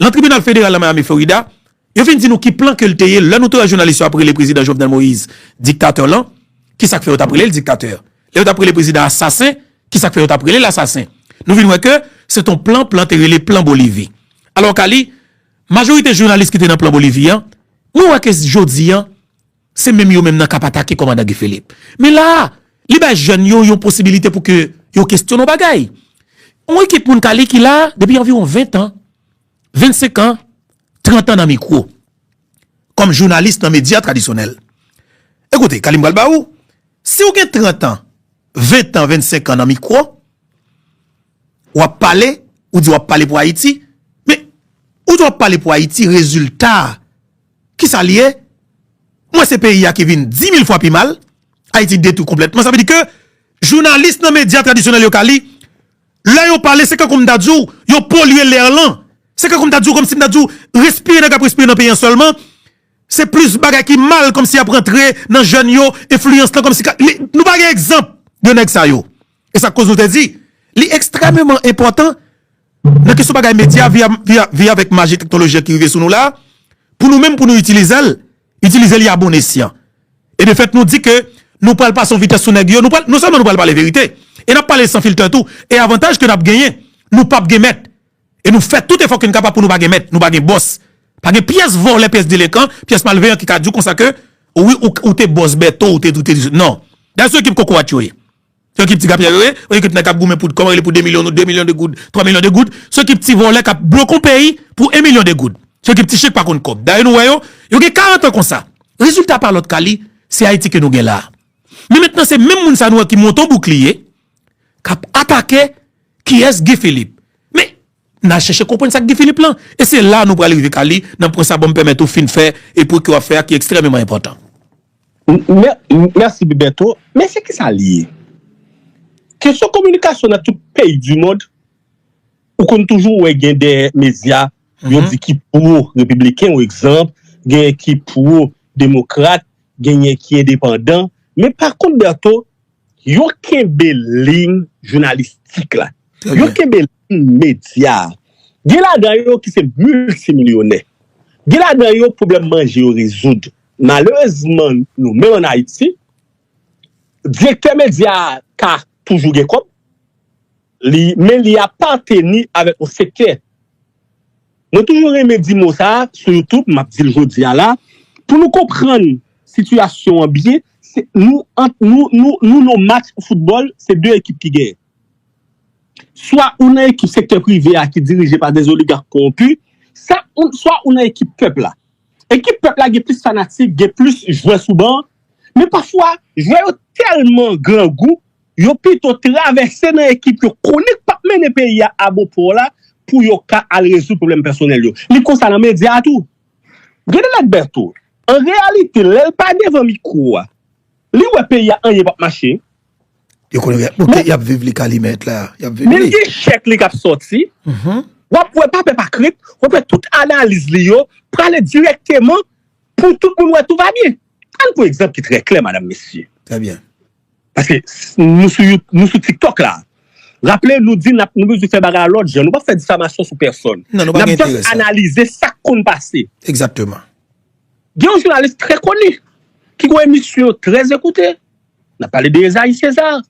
lan tribinal federal lan Miami Florida, yo fin di nou ki plan ke l te ye lè nou 3 jounalis yo ap rele prezidan Jovenel Moise diktatè lan, ki sa k fè yo t ap rele l diktatè? Lè yo t ap rele prezidan a asasen, ki sa k fè yo t ap rele l asasen? Nou vin wè ke se t on plan, plan te rele plan Bolivi. Alò Kali, majorite jounalis ki te nan plan Bolivi an, mwen wè ke jodi an, Se menm yo menm nan kap atake kòmandan Guy Philippe. Men la a, li bay jèn yo yon posibilite pou ke yo kesyon yon bagay. Yon ekip moun kale ki la a depi anviwon 20 tan, 25 an, 30 an nan mikwo. Kòm jounalis nan medya tradisyonèl. E koute, kale m pral ba ou, si ou gen 30 an, 20 an, 25 an nan mikwo, w ap pale, ou di w ap pale pou Ayiti, men, ou di w ap pale pou Ayiti, rezilta a, Kisa li ye? M wè se peyi a ki vin di mil fwa pi mal. Ayiti detwi konplètman. Sa vle di ke jounalis nan medya tradisyonèl yo ka li, lè yo pale se kankou m ta di w yo polye lè lan. Se kankou m ta di w, kòm si m ta di w respire nan k ap respire nan peyi an sèlman. Se plis bagay ki mal kòm si y ap rantre nan jèn yo, enfliyans lan kòm si ka li. Nou pa gen egzanp de nèg sa yo. E sa k koz nou te di li ekstrèmeman enpòtan Nan kesyon bagay medya, vi avèk maji teknoloji an ki rive sou nou la, pou nou menm pou nou itilize l, itilize li a bon esyan. E de fèt nou di ke nou pral pase yon vitès sou nèg yo, nou pral, non sèlman nou pral pale verite, e n ap pale san filtè tou, e avantaj ke n ap genyen, nou pap gen mèt. E nou fè tout efò ke n kapab pou nou pa gen mèt, nou pa gen bòs. Pa gen pyès vòlè, pyès delenkan, pyès malveyan ki ka di w konsa ke, wi ou te bòs Bèto, ou te, ou te, non. Dayè se yo ekip kokorat yo ye. Yo kip ti gapyè yo ye, yo kip nèg kap goumen pou, kòman rele pou 2 milyon nou, 2 milyon de goud, 3 milyon de goud, se yo kip ti vòlè kap blokon peyi pou 1 milyon de goud. Se yo kip ti chen k pa konn kòb. Dayè nou wè yo, yo gen 40 an konsa. Rezilta pa lòt ka li, se Ayiti ke nou gen la a. Men mentnan se menm moun sa nou wè ki monte yon boukliye, kap atake kiyès Guy Philippe. Men, Na chèche konprann sa Guy Philippe lan e se la nou pral rive ka li nan pwen sa banm pèmèt ou fin fè e pwen ke wap fè a ki ekstrèmeman enpòtan. Mèsi Bertho, men se kisa li ye? Kesyon kominikasyon nan tout peyi di mond ou konn toujou wè gen de medya yo di ki pwo repibliken ou egzanp genyen ki pwo demokrat genyen ki endepandan men pa kont Bertho Yo kenbe liy jounalistik la. Yo kenbe liy medya a. Gen ladan yo ki se miltimilyonè. Gen ladan yo pwoblèm manje yo rezoud. Malerezman nou menm an Ayiti, direktè medya a ka toujou gen kòb, men li apateni avèk yon sektè. Mwen toujou renmen di mo sa a sou youtube, map dil jodi a la, pou nou konprann sitiyasyon an byen, se nou ant nou, nou nou nou match foutbòl se 2 ekip ki genyen. Swa ou nan ekip sektè prive a ki dirije pa des oligarques corrompus, sa ou swa ou nan ekip pèp la. Ekip pèp la gen plis fanatik, gen plis jwè sou ban, men pafwa jwè yo tèlman grangou, Yo pito travèse nan ekip yo konnen k pap mennen peyi a a bon pò la pou yo ka al rezoud pwoblèm pèsonèl yo. Li konsa nan medya a tou. Gedelet Bertho, an reyalite, lè l pa devan mikwo a, li wè peyi a anyen pap mache. Yo konnen y ap moute, y ap viv li Kalimèt la. Y ap viv li. Men l gen chèk li k ap sòti. W ap wè pa pè pa krent, w ap wè tout analiz li yo prale dirèkteman pou tout moun wè tou va byen. Ann pran egzanp ki trè klè, madam, mesye. Trè byen. Paske nou sou tiktok la. Raple nou di nap nou bezwen fè bagay lòt jan. Nou pap fè difamasyon sou pèsòn. Nap just analize sak konn pase. Exactement. Gen yon jounalis trè koni. Ki gon emisyon yo trè ekoute. Nap pale de Esaïe César.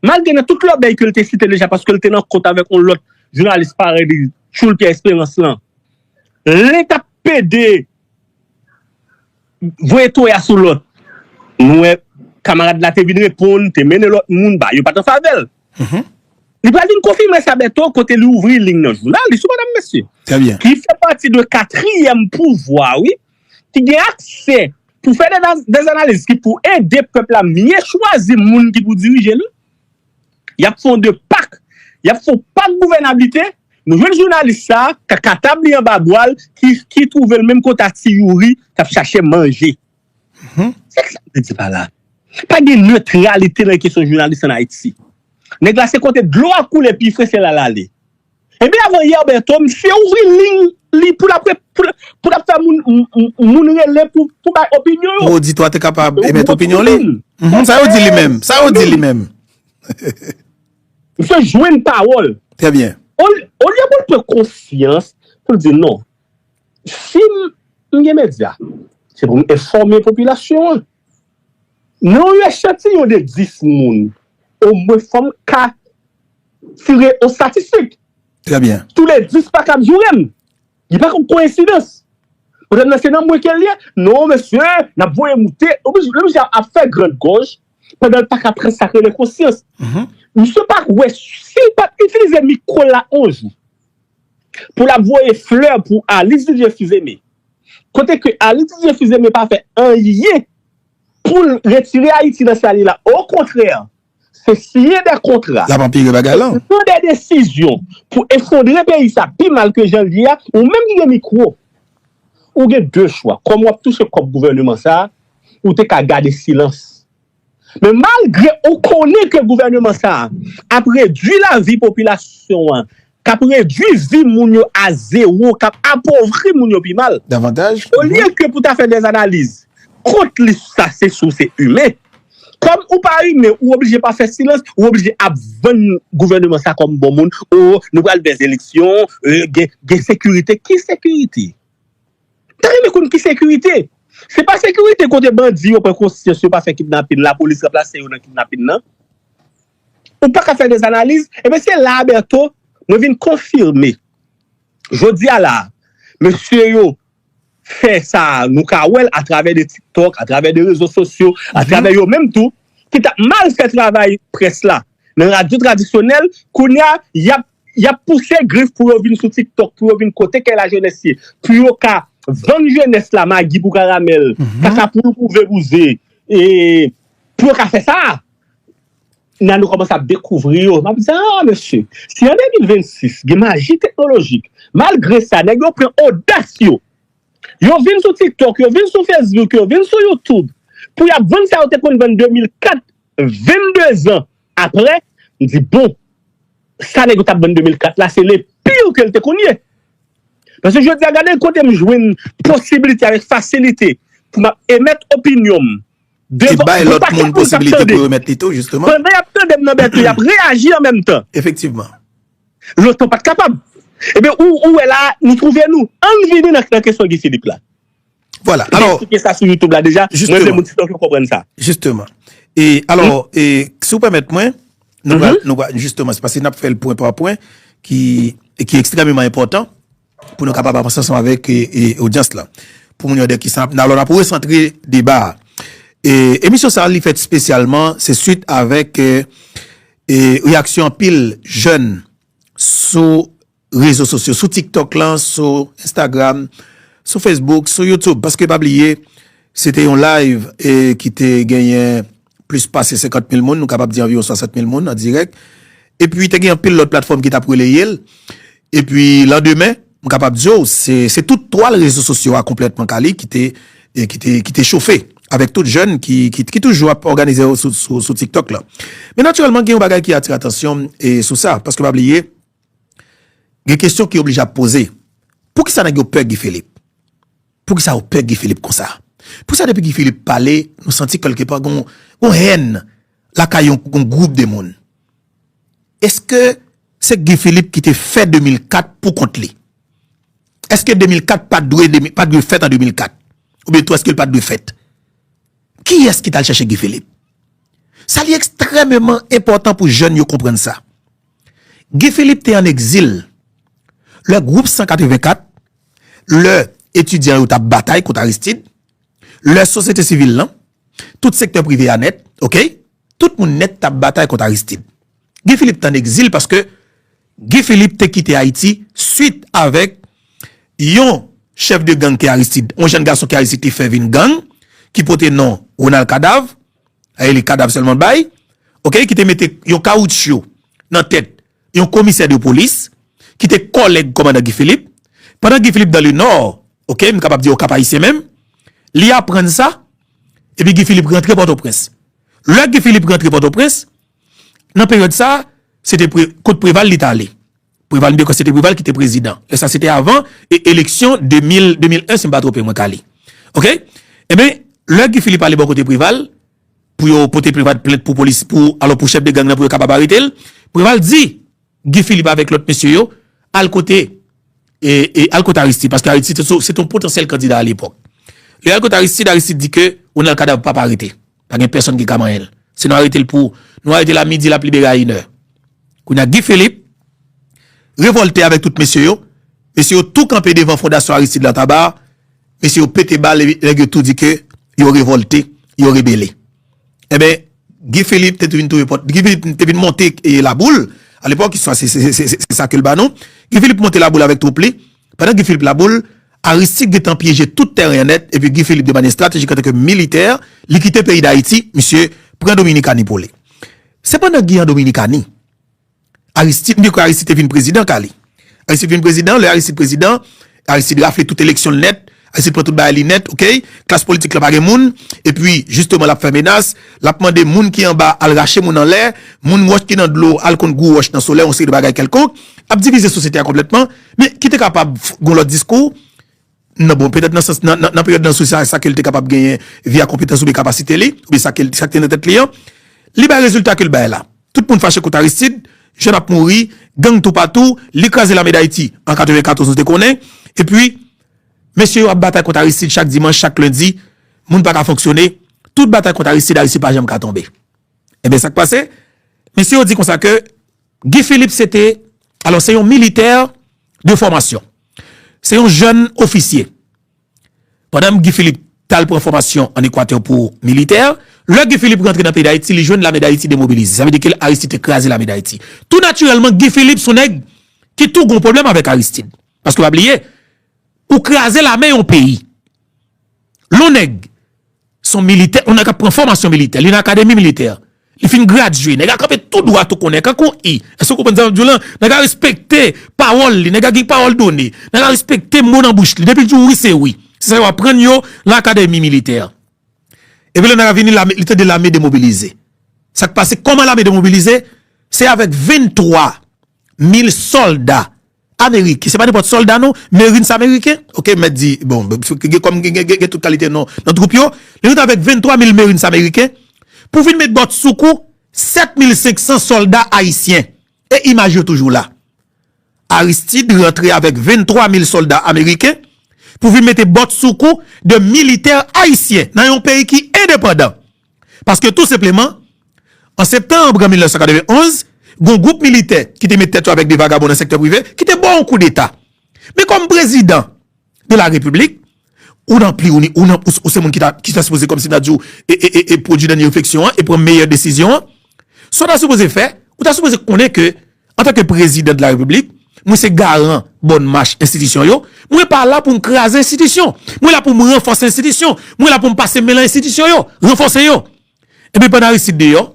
Malgre nan tout lòbèy ke li te site deja paske li te nan kont avèk yon lòt jounalis parèy li tchoul Pierre Espérance lan. Lè tap pede. Voye toya sou lòt. Nou wè kamarad la te vin reponn, te mennen lòt moun ba yo pa t an favè l. Li pral vin konfime sa bèto kote li ouvri ling nan jounal li sou madam mesye. Ki fè pati de katriyèm pouvwa wi ki gen aksè pou fè dezanaliz ki pou ede pèp la mye chwazi moun ki pou dirije li. Y ap fè yon 2 pak, y ap fè yon pak gouvènablite, nou jwenn jounalis sa a ka katab li anba bwa l ki twouve l menm kote a ti Youri k ap chache manje. Se ki sa m vle di pa la a? Pa gen netralite nan kesyon jounalis an Ayiti. Nèg la se kote dlo a koule pi fre se la l ale. Ebyen avan yè Bertho misye ouvri ligne li pou lap pou lap fè moun moun rele pou bay opinyon yo. Pou oditwa te kapab emet opinyon li. Humm sa yo di li menm? Sa yo di li menm? Misye jwenn pawòl. Trè byen. Olye pou l pran konsyans pou l di non si m gen medya se pou m enfòme popilasyon an. Nan yon echantiyon de 10 moun omwen fòm ka Tire yon statistik. Trè byen. Tou le 10 pa kab joure m. Li pa konn koyensidans. Pwoblèm nan se nan mwen ke l ye. Non mesye, n ap voye moute. Ou bi, lè misye ap fè grand gòj, pandan l pa ka pran sa k rele konsyans. Misye pa k wè, si l pa t itilize mikwo l la yon jou, pou l ap voye flè pou Alix Didier Fils-Aimé, kote ke Alix Didier Fils-Aimé pa fè anyen pou l retire Ayiti nan sa l ye la. Okontrè, Se siyen de kontra. L ap anpire bagay lan. Se pran de desizyon pou efondre peyi sa pi mal ke jan l ye a. Ou menm ki gen mikwo, ou gen de chwa. Kòm w ap touche kòb gouvèneman sa a, ou te ka gade silans. Men malgre ou konnen ke gouvèneman sa a ap redui lavi popilasyon an k ap redui vi moun yo a zewo, k ap apovri moun yo pi mal. Olye ke pou ta fè dè analiz kont li sou sa se si w se imen, kòm ou pa imen ou oblije pa fè silans, ou oblije ap vann gouvèneman sa kòm bon moun, o nou pral vè zeleksyon, gen sekirite, ki sekirite? M ta renmen konn ki sekirite? Se pa sekirite kote bandi yo pran konsyans yo pa fè kidnapin, lapolis ranplase yo nan kidnapin nan? Ou pa ka fè des analiz, ebyen se la a Bertho mwen vin konfime jodi a la a mesye yo fè sa a nou ka wè l atravè de tiktok, atravè de rezo sosyo, atravè yo menm tou ki t ap mal fè travay près la nan radyo tradisyonèl kounye a y ap y ap pouse grif pou yo vin sou tiktok pou yo vin kote kè lajenès ye pou yo ka vann jenès la magi pou karamèl, kaka pou louko vebouze e pou yo ka fè sa a. Nan nou kòmanse ap dekouvri yo. M ap di, aa mesye, si an 2026 gen maji teknolojik, malgre sa nèg yo pran odas yo, yo vin sou TikTok, yo vin sou Facebook, yo vin sou YouTube pou y ap vann sa yo te konn vann 2004, 22 zan aprè, m di bon, sa nèg yo t ap vann 2004 la se le pire ke l te konn ye. Paske jodi a gade kote m jwenn posibilite avèk fasilite pou m ap emèt opinyon m. Te bay lòt moun posibilite pou remèt li tou, jisteman. Pandan y ap tande m nan Bèto, y ap reyaji an menm tan. Efektivman. Lontan pa t kapab. Ebyen, ou wè la a, nou twouve nou. An n vini nan kesyon Guy Philippe la. Vwala, alò. Mwen eksplike sa sou YouTube la deja. Jisteman. Mwen vle moun TikTok yo konprann sa. Jisteman. E, alò, e, si ou pèmèt mwen, nou pral, nou pral, jisteman, se paske n ap fè l pwen pa pwen ki, ki ekstrememan enpòtan. pou nou kapab avanse ansanm avèk odyans la pou moun yo de kisa alò n ap resantre deba a. Emisyon sa li fèt spesyalman se suit avèk reyaksyon anpil jèn sou rezo sosyo, sou tiktok la, sou instagram, sou facebook, sou youtube paske pa bliye se te yon live ki te genyen. plis pase 50 mil moun, nou kapab di anviwon 107 mil moun an dirèk. Epi te gen anpil lòt platfòm ki t ap releye l. Epi landemen, m kapab di w, se tout twal rezo sosyo a konplètman kale ki te chofe avèk tout jèn ki toujou ap òganize yo sou TikTok la. Men natirèlman gen yon bagay ki atire atansyon m sou sa, paske pa bliye, gen kesyon ki oblije ap poze. Poukisa nèg yo pè Guy Philippe? Poukisa ou pè Guy Philippe konsa? Poukisa depi Guy Philippe pale nou santi kelke pa gon yon hèn lakay yon gwoup de moun? Eske se Guy Philippe ki te fè 2004 pou kont li? Eske 2004 pa dwe pa dwe fèt an 2004? Ou byen tou eske l pa dwe fèt? Kiyès ki tal chèche Guy Philippe? Sa li ekstrèmeman enpòtan pou jèn yo konprann sa. Guy Philippe te an egzil lè gwoup 184, lè etidyan yo t ap batay kont Aristide, lè sosyete sivil lan, tout sektè prive a nèt, ok, tout moun nèt t ap batay kont Aristide. Guy Philippe te an egzil paske Guy Philippe te kite Ayiti swit avèk yon chèf de gang ke Aristide, yon jèn gason ke Aristide te fè vin gang ki pote non Ronald Cadavre, Aye li kadav selman bay. Ok ki te mete yon kawoutchou nan tet yon komisè de polis ki te koleg komandan Guy Philippe. Pandan Guy Philippe dan le nò, ok m kapab di o Kapayisyen menm, li aprann sa epi Guy Philippe rantre Potoprens. Le Guy Philippe rantre Potoprens, nan peryod sa se te pre, kot Preval li t ale. Preval Mibeko se te Preval ki te prezidan. Lè sa se te avan eleksyon 2000, 2001 si m pa twope mwen ka li. Ok? Enben, lè Guy Philippe ale bò kote Preval pou yo pote Preval plent pou polis, pou alò pou chèf de gang nan pou yo kapab arete l, Preval di Guy Philippe avèk lòt mesye yo al kote e, e al kote Aristide paske Aristide se te yon potansyèl kandida alepòk. Lè y al kote Aristide, Aristide di ke Ronald Kadav pap arete. Pa gen pèsòn ki ka manyen l. Si nou arete l pou, nou arete l a midi l ap libere a inè. Kounye a Guy Philippe revòlte avèk tout mesye yo. Mesye yo tou kanpe devan fondasyon Aristide la Tabarre. Mesye yo pete bal epi nèg yo tou di ke yo revòlte, yo rebele. Enben Guy Philippe te tou vin touye pòt, Guy Philippe te vin monte Laboul. Alepòk istwa se sa ke l ba nou. Guy Philippe monte Laboul avèk twoup li. Pandan Guy Philippe laboul, Aristide gentan pyeje tout tèren an nèt epi Guy Philippe de manye estratejik antanke militè, li kite peyi Dayiti, misye pran Dominikani pou li. Se pandan Guy an Dominikani, Aristide, mwen kwè Aristide te vin prezidan ka li. Aristide vin prezidan, lè Aristide prezidan, Aristide rafle tout eleksyon l nèt, Ayisyen pran tout bagay li nèt ok, klas politik la pa gen moun, epi jisteman lap fè menas, lap mande moun ki anba al rache moun anlè, moun wòch ki nan dlo al kont gwo wòch nan solèy yon seri de bagay kèlkonk, ap divize sosyete a konplètman, men ki te kapab gon lòt diskou nan bon petèt nan sans nan peryòd nan sou sa sa kel te kapab genyen via konpetans oubyen kapasite li, oubyen sa kel sa ki te nan tèt li an, li bay rezilta kel bay la, tout moun fache kont Aristid, jèn ap mouri, gang toupatou, li kraze lame dayiti an 94 nou te konnen, epi. Mesye yo ap batay kont Aristide chak dimanch, chak lendi, moun pa ka fonksyone, tout batay kont Aristide, Aristide pa janm ka tonbe. Enben sa k pase, mesye yo di konsa ke Guy Philippe se te, alò se yon militè de fòmasyon, se yon jèn ofisye. Pandan Guy Philippe t al pran fòmasyon an Ekwatè pou militè, lè Guy Philippe rantre nan peyi Dayiti, li jwenn lame Dayiti demobilize. Sa vle di ke Aristide te kraze lame Dayiti. Tou natirèlman, Guy Philippe s on nèg ki tou gen yon pwoblèm avèk Aristide. Paske pa bliye, ou kraze lame yon peyi. Lon nèg, son militè, on nèg ap pran fòmasyon militè, li nan akademi militè, li fin gradye, nèg a kanpe tou dwat ou konnen, kankou yon i. Èske ou konprann sa map di w lan? Nèg a respekte pawòl li, nèg a gen pawòl done, nèg a respekte mo nan bouch li. Depi l di w wi, se wi. Se sa yo aprann yo lan akademi militè. Epi lè nèg a vini, li tande lame demobilize. Sa k pase? Kòman lame demobilize? Se avèk 23 mil sòlda. Ameriken se pa nenpòt sòlda non, Marines ameriken, ok, m mèt di, bon, gen kòm gen tout kalite non nan twoup yo, li rete avèk 23 mil Marines ameriken pou vin met bòt sou kou 7 mil 500 sòlda ayisyen. E imaj yo toujou la. Aristide rantre avèk 23 mil sòlda ameriken pou vin mete bòt sou kou de militè ayisyen nan yon peyi ki endepandan. Paske tou senpleman, an septanb 1991, gon gwoup militè ki te met tèt yo avèk de vagabon nan sektè prive ki te ba w yon kou deta. Men kòm prezidan de la repiblik, ou nan pli ou ni ou nan pous ou se moun ki ta sipoze kòmsi ta di w e pwodui dènye refleksyon an e pran meyè desizyon an. Sa w ta sipoze fè, ou ta sipoze konnen ke antanke prezidan de la repiblik, mwen se garan bòn mach enstitisyon yo, mwen pa la pou m kraze enstitisyon, mwen la pou m ranfòse enstitisyon, mwen la pou m pase men lan enstitisyon yo, ranfòse yo. Epi pandan Aristide deyò,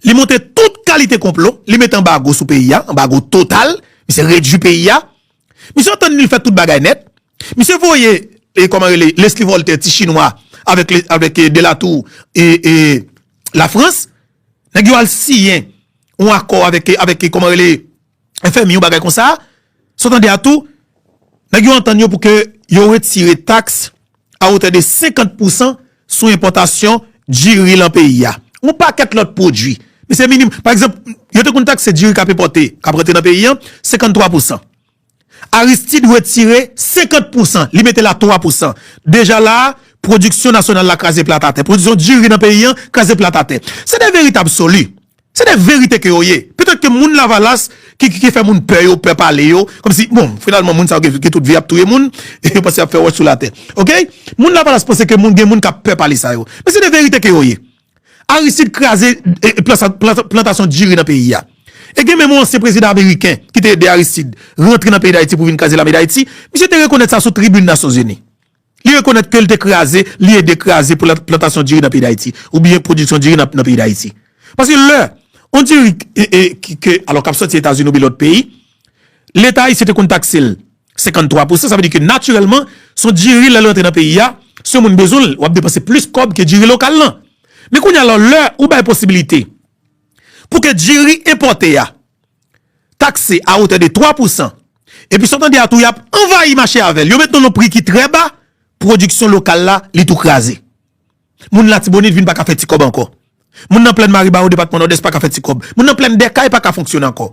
li monte tout kalite konplo, li mete anbago sou peyi a, anbago total, misye redui peyi a, misye antann li l fè tout bagay nèt, misye voye, kòman rele, Leslie Voltaire, ti chinwa, avèk Delatour, e, e. la France nèg yo al siyen yon akò avèk avèk kòman rele FMI yon bagay konsa sa w tande a tou nèg yo antann yo pou ke yo retire taks a wotè de 50 pou 100 sou enpòtasyon diri lan peyi a yon pakèt lòt pwodui men se minim pa egzanp yo te konn takse diri k ap enpòte k ap rantre nan peyi an 53 pou 100. Aristide retire 50 pou san, li mete la 3 pou san. Deja la a, pwodiksyon nasyonal la kraze plat atè. Pwodiksyon diri nan peyi an kraze plat atè. Se de verite absoli. Se de verite ke yo ye. Petèt ke moun lavalas ki ki fè moun pè yo pè pale yo, kòm si, bon, finalman moun sa yo gen tout vi ap touye moun, e yo panse y ap fè wòch sou latè. Ok? Moun lavalas panse ke moun gen moun k ap pè pale sa yo. Men se de verite ke yo ye. Aristide kraze plantasyon diri nan peyi a. E gen menm yon ansyen prezidan ameriken ki te ede Aristide rantre nan peyi Dayiti pou vin kraze lame Dayiti. Misye te rekonèt sa sou tribin Nasyonzini. Li rekonèt ke li te kraze, li ede kraze plantasyon diri nan peyi Dayiti. Ou byen pwodiksyon diri nan peyi Dayiti. Paske lè, yon diri, alò kap soti Etazini ou byen lòt peyi. Leta ayisyen te konn takse l 53 pousan, sa vle di ke natirèlman son diri lè l rantre nan peyi a, si yon moun bezwen l, w ap depanse plis kòb ke diri lokal lan. Men kounye a la, lè ou bay posibilite pou ke diri enpòte a takse a otè de 3 pousan, epi sa w tande a tou y ap anvayi mache avè l, yo mete l yon pri ki trè ba, pwodiksyon lokal la li tou kraze. Moun Latibonit vin pa ka fè ti kòb ankò. Moun nan plèn Maribawo, depatman Nòdès pa ka fè ti kòb. Moun nan plèn Dèkay pa ka fonksyone ankò.